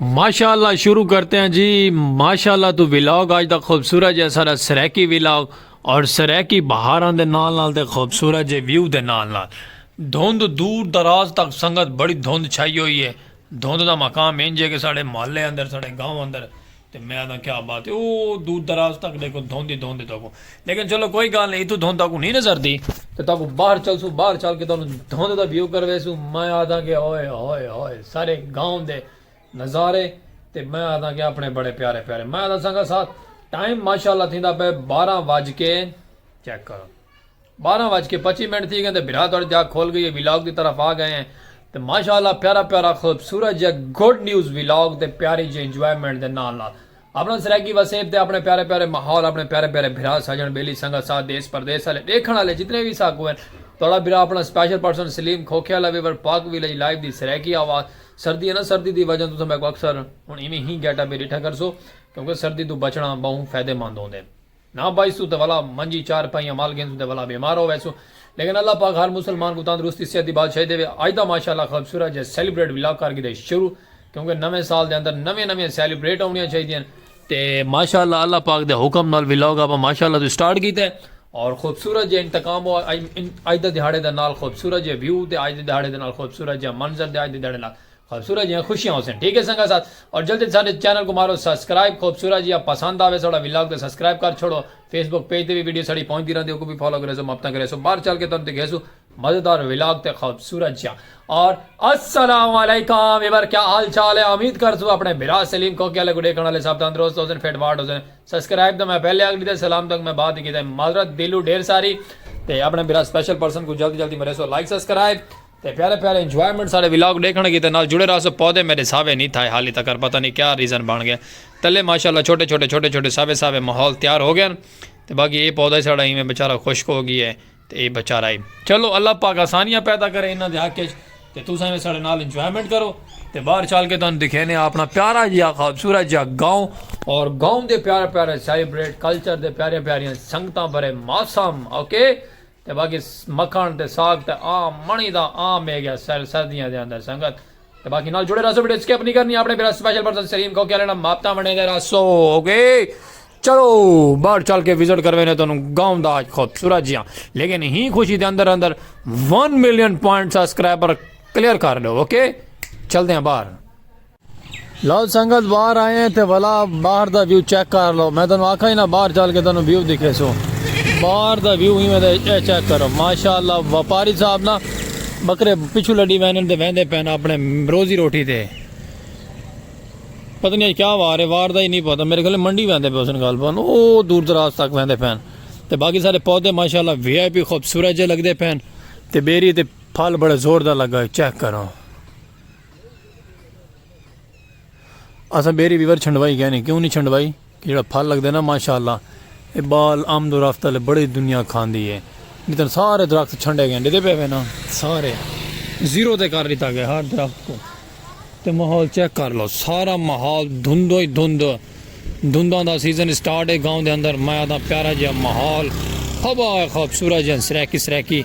ماشاء اللہ شروع کرتے ہیں جی ماشاء اللہ تو ولاگ آج دا خوبصورت جی سارا سریکی ولاگ اور سریکی بہاراں دے نال نال تے خوبصورت جی ویو دے نال نال دھند دور دراز تک سنگت بڑی دھند چھائی ہوئی ہے دھند دا مقام انج ہے کہ ساڑے محلے اندر ساڑے گاؤں اندر تے میں آہداں کیا بات ہے او دور دراز تک ڈیکھوں دھوندی دھوندی تہاکوں لیکن چلو کوئی گالھ نئیں اتھوں دھوند تہاکوں نئیں نظر دی تے تہاکوں باہر چلسوں باہر چل کے تہانوں دھوند دا ویو کرویسوں میں آہداں کہ ہوئے ہوئے ہوئے سارے گاؤں دے نظارے تے میں آہداں کہ اپنے بڑے پیارے پیارے میں آہداں سنگت ساتھ ٹائم ماشاءاللہ تھیندا پئے بارہ وج کے چیک کرو بارہ وج کے پچی منٹ تھی گئے تے بھرا تہاڈی تے اکھ کھل گئی ہے ولاگ دی طرف آ گئے ہیں تے ماشاءاللہ پیارا پیارا خوبصورت جیا گڈ نیوز ولاگ تے پیاری جی انجوائمنٹ دے نال نال اپنا سرائیکی وسیب تے اپنے پیارے پیارے ماحول اپنے پیارے پیارے بھرا سجن بیلی سنگت ساتھ دیس پردیس والے ڈیکھن والے جتنے وی ساکو ہیں تہاڈا بھرا اپنا سپیشل پرسن سلیم کھوکھے والا ویور پاک ویلج لائیو دی سرائیکی آواز سردی ہے نا سردی دی وجہ تساں میکو اکثر ہن ایویں ہی گیٹ اپ ڈیٹھا کرسو کیونکہ سردی تو بچنا بہوں فائدہ مند ہوندے نہ بائیسوں تے ولا منجی چار پائیاں مال گھنسوں تے ولا بیمار ہو ویسوں لیکن اللہ پاک ہر مسلمان کوں تندرستی صحت دی بادشاہی دیوے اج دا ماشاء اللہ خوبصورت جیہا سیلیبریٹ ولاگ کر گھدے شروع کیونکہ نویں سال دے اندر نویاں نویاں سیلیبریٹ آونیاں چاہیدیاں تے ماشاء اللہ اللہ پاک دے حکم نال ولاگ آپاں ماشاء اللہ توں سٹارٹ کیتے اور خوبصورت جیہا انتقام ہو اج دا دیہاڑے دے نال خوبصورت جیہا ویو تے اج دے دیہاڑے دے نال خوبصورت جیہا منظر تے اج دے دیہاڑے نال خوبصورت جیاں خوشیاں ہوسن ٹھیک ہے سنگت ساتھ اور جلدی توں ساڈے چینل کوں مارو سبسکرائب خوبصورت جیاں پسند آوے ساڈا ولاگ تاں سبسکرائب کر چھوڑو فیس بک پیج تے وی ویڈیو ساڈی پہنچ دی رہندی اوکوں وی فالو کریسو مبتاں کریسو باہر چل کے تانوں دکھیسو مزیدار ولاگ تے خوبصورت جیاں اور السلام علیکم ایبر کیا حال چال ہے امید کرسو اپنے بھرا سلیم کھوکے والے کو ڈیکھن والے سب تندرست ہوسن فٹ فاٹ ہوسن سبسکرائب تاں میں پہلے آکھ ڈیتا سلام تک میں بعد کیتا معذرت دلو ڈھیر ساری تے اپنے بھرا سپیشل پرسن کو جلدی جلدی مریسو لائک سبسکرائب تے پیارے پیارے انجوائمنٹ ساڈے ولاگ ڈیکھن کیتے نال جڑے رہسو پودے میڈے ساوے نی تھائے حالی تکر پتہ نی کیا ریزن بن گئے تلے ماشاءاللہ چھوٹے چھوٹے چھوٹے چھوٹے ساوے ساوے ماحول تیار ہو گئن تے باقی اے پودا ساڈا ایویں بیچارہ خشک ہو گئی ہے تے اے بیچارہ ہی چلو اللہ پاک آسانیاں پیدا کرے انہاں دے حق اچ تے تساں ایویں ساڈے نال انجوائمنٹ کرو تے باہر چل کے تانوں دکھینے آ اپنا پیارا جیا خوبصورت جیا گاؤں اور گاؤں دے پیارے پیارے سیلیبریٹ کلچر دے پیارے پیاریاں سنگتاں بھرے موسم اوکے تے باقی مکھݨ تے ساگ تے آم مݨی دا عام میگھیا سیل سردیاں دے اندر سنگت تے باقی نال جڑے رہسو ویڈیو سکپ نی کرنی اپݨے بھرا سپیشل پرسن سلیم کھوکھے آلے نال مابطہ بݨے دے رہسو اوکے چلو باہر چل کے وزٹ کروینے تو گاؤں دا آج خوبصورت جیاں لیکن ہی خوشی دے اندر اندر one million point subscriber clear کر لو اوکے چلتے ہیں باہر لو سنگت باہر آئے ہیں تے بھلا باہر دا ویو چیک کر لو میں تانوں آکھا ہی نا باہر چل کے تانوں ویو دکھے سو باہر دا ویو ہی میں تے اے چیک کرو ماشاءاللہ وپاری صاحب نا بکرے پچھو لڈی وینن تے ویندے پین اپنے روزی روٹی تے پتہ نہیں کیا وار ہے وار دا ہی نہیں پتہ میرے گھلے منڈی ویندے پہ اسن گال پن او دور دراز تک ویندے پین تے باقی سارے پودے ماشاءاللہ وی آئی پی خوبصورت جے لگدے پین تے بیری تے پھل بڑے زور دا لگا ہے چیک کرو اساں بیری ویور چھنڈوائی گئے نہیں کیوں نہیں چھنڈوائی کہ جڑا پھل لگدا ہے نا ماشاءاللہ اے بال آمد و رفت والے بڑی دنیا کھاندی ہے جتن سارے درخت چھنڈے گئے ڈیدے پے ہوئے نا سارے زیرو تے کر لیتا گیا ہر درخت کو تے ماحول چیک کر لو سارا ماحول دھندو ہی دھند دھنداں دا سیزن اسٹارٹ اے گاؤں دے اندر مئے دا پیارا جیہا ماحول ہوا اے خوبصورت جیہن سرائیکی سرائیکی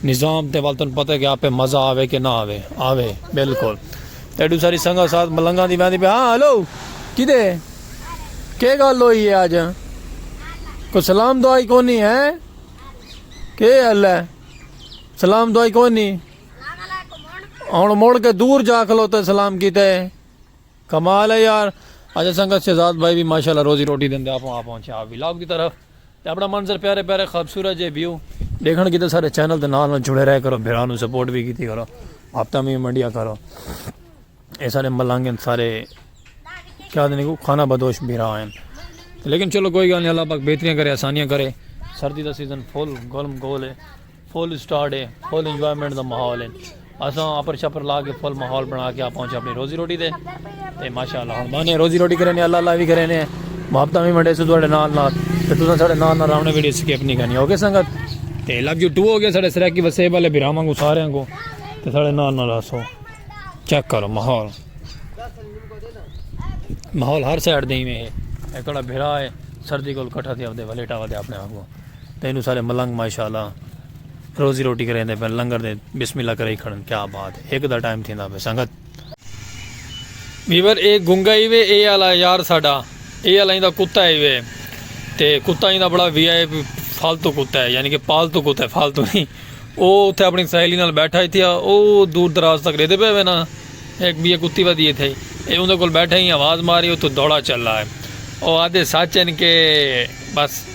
نظام تے ول تن پتہ کہ آپے مزہ آوے کہ نہ آوے آوے بالکل تیڈو ساری سنگت ساتھ ملنگاں دی ویندی پے ہاں ہلو کدے کے گل ہوئی اے اج کو سلام دعائی کونی ہے کے اللہ سلام دعائی کونی ہن مڑ کے دور جا کھلوتے سلام کیتے کمال ہے یار اچھا سنگت شہزاد بھائی بھی ماشاءاللہ روزی روٹی دے اندر آ پہنچے آپ ولاگ دی طرف تے اپنا منظر پیارے پیارے خوبصورت جے ویو دیکھن کیتے سارے چینل دے نال نال جڑے رہے کرو بھرا نو سپورٹ بھی کیتی کرو ہفتہ میں منڈیا کرو اے سارے ملنگ سارے کیا دے کو کھانا بدوش بھرا ہیں لیکن چلو کوئی گل نہیں اللہ پاک بہتریاں کرے آسانیاں کرے سردی دا سیزن فل گرم گول ہے فل اسٹارٹ ہے فل انجوائمنٹ دا ماحول ہے اساں اپر شپر لا کے فل ماحول بنا کے آپ پہنچے اپنی روزی روٹی دے تے ماشاءاللہ ہن مانے روزی روٹی کرنے اللہ اللہ بھی کرنے محبتاں بھی منڈے سو تواڈے نال نال تے تساں ساڈے نال نال راونے ویڈیو سکپ نہیں کرنی اوکے سنگت تے لو یو ٹو ہو گیا ساڈے سرائیکی وسیب والے بھراواں کو سارے کو تے ساڈے نال نال راسو چیک کرو ماحول ماحول ہر سائڈ دے میں ہے اکڑا بھرا ہے سردی کول کٹھا تھی اپ دے ولیٹا ودے اپنے آپ کو تے اینو سارے ملنگ ماشاءاللہ روزی روٹی کریندے پن لنگر دے بسم اللہ کرئی کھڑن کیا بات ہے ہک دا ٹائم تھیندا پے سنگت۔ ویور اے گنگا ای وے اے آلا یار ساڈا اے آلا ایندا کتا ای وے تے کتا ایندا بڑا وی آئی پی فالتو کتا ہے یعنی کہ پالتو کتا ہے فالتو نہیں او اتھے اپنی سہیلی نال بیٹھا ہی تھیا او دور دراز تک ریدے پے وینا ایک بی کتی ودی تھے اے اوندے کول بیٹھا ہی آواز ماری او تو دوڑا چلا ہے او آدھے سچ ہیں کہ بس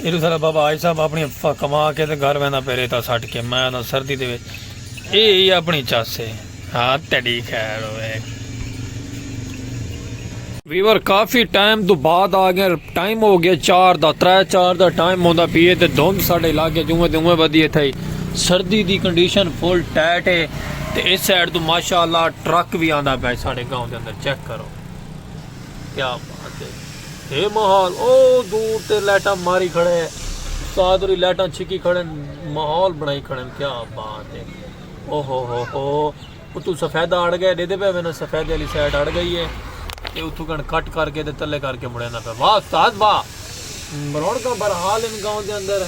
ایڈو سارا بابا آج صاحب اپنی کما کے تے گھر وینا پہ ریتا سٹ کے میں آنا سردی دے وچ اے ہی اپنی چس ہے ہاں تیڈی خیر ہوئے ویور کافی ٹائم تو بعد آ گیا ٹائم ہو گیا چار دا ترے چار دا ٹائم ہوندا پیے تے دھند ساڈے علاقے جویں تے اویں ودی تھئی سردی دی کنڈیشن فل ٹائٹ ہے تے اس سائیڈ تو ماشاءاللہ ٹرک بھی آندا پیا ساڈے گاؤں دے اندر چیک کرو کیا بات ہے ہے محال او دور تے لائٹاں ماری کھڑے استاد ہوری لائٹاں چھکی کھڑے محال بنائی کھڑے کیا بات ہے او ہو ہو ہو اتو سفیدہ اڑ گئے دے دے پہ میں سفیدہ علی سائیڈ اڑ گئی ہے تے اتو کن کٹ کر کے تے تلے کر کے مڑے نہ پہ واہ استاد واہ مروڑ کا برحال ان گاؤں دے اندر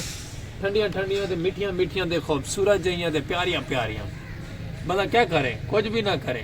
ٹھنڈیاں ٹھنڈیاں تے مٹھیاں مٹھیاں دے خوبصورت جہیاں تے پیاریاں پیاریاں بلا کیا کرے کچھ بھی نہ کرے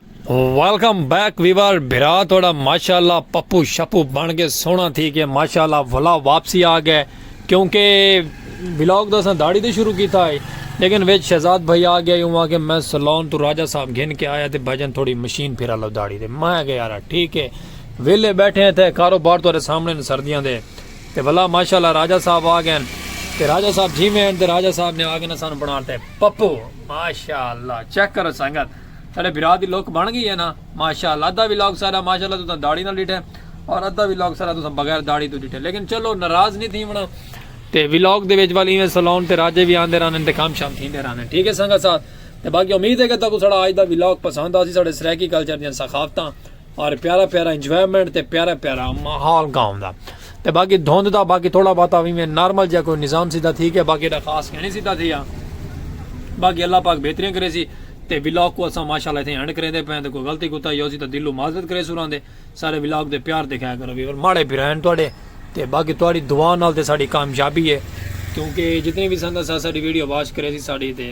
ویلکم بیک ویور بھرا تھوڑا ماشاءاللہ پپو شپو بن کے سونا تھی کے ماشاءاللہ ولا واپسی آ گئے کیونکہ ولاگ دا سن داڑی دے شروع کیتا ہے لیکن ویچ شہزاد بھائی آ گیا یوں کہ میں سلون تو راجہ صاحب گھن کے آیا تے بھجن تھوڑی مشین پھرا لو داڑی دے میں گیا رہا ٹھیک ہے ویلے بیٹھے ہیں تھے کاروبار تو سامنے نے سردیاں دے تے بھلا ماشاءاللہ راجہ صاحب آ گئے تے راجہ صاحب جی میں تے راجہ صاحب نے آ گئے سان بنا تے پپو ماشاءاللہ چیک کرو سنگت ساڈے بھرا دی لک بن گئی ہے نا ماشاءاللہ ادھا ولاگ ساڈا ماشاءاللہ تساں داڑھی نال ڈٹھے اور ادھا ولاگ ساڈا تساں بغیر داڑھی تو ڈٹھے لیکن چلو ناراض نہیں تھی ونا تے ولاگ دے وچ والی ایویں سلون تے راجے بھی آندے رہن تے کام شام تھیندے رہن ٹھیک ہے سنگا ساتھ تے باقی امید ہے کہ تاکو ساڈا اج دا ولاگ پسند آسی ساڈے سرائیکی کلچر دیاں ثقافتاں اور پیارا پیارا انجوائمنٹ تے پیارا پیارا ماحول گاؤں دا تے باقی دھوند دا باقی تھوڑا باتا بھی میں نارمل جا کوئی نظام سیدھا تھی گیا باقی دا خاص کہنے سیدھا تھی گیا باقی اللہ پاک بہترین کرے سی تے ولاگ کو اساں ماشاءاللہ تھے اینڈ کریں دے پہن تے کوئی غلطی کوتا ہی ہو سی تے دلو معذرت کرے سوران دے سارے ولاگ دے پیار دکھایا کرو بھی اور ماڑے پھرائن توڑے تے باقی توڑی دعا نال تے ساڑی کامیابی ہے کیونکہ جتنے بھی سندہ سا ساڑی ویڈیو واش کرے سی ساڑی تے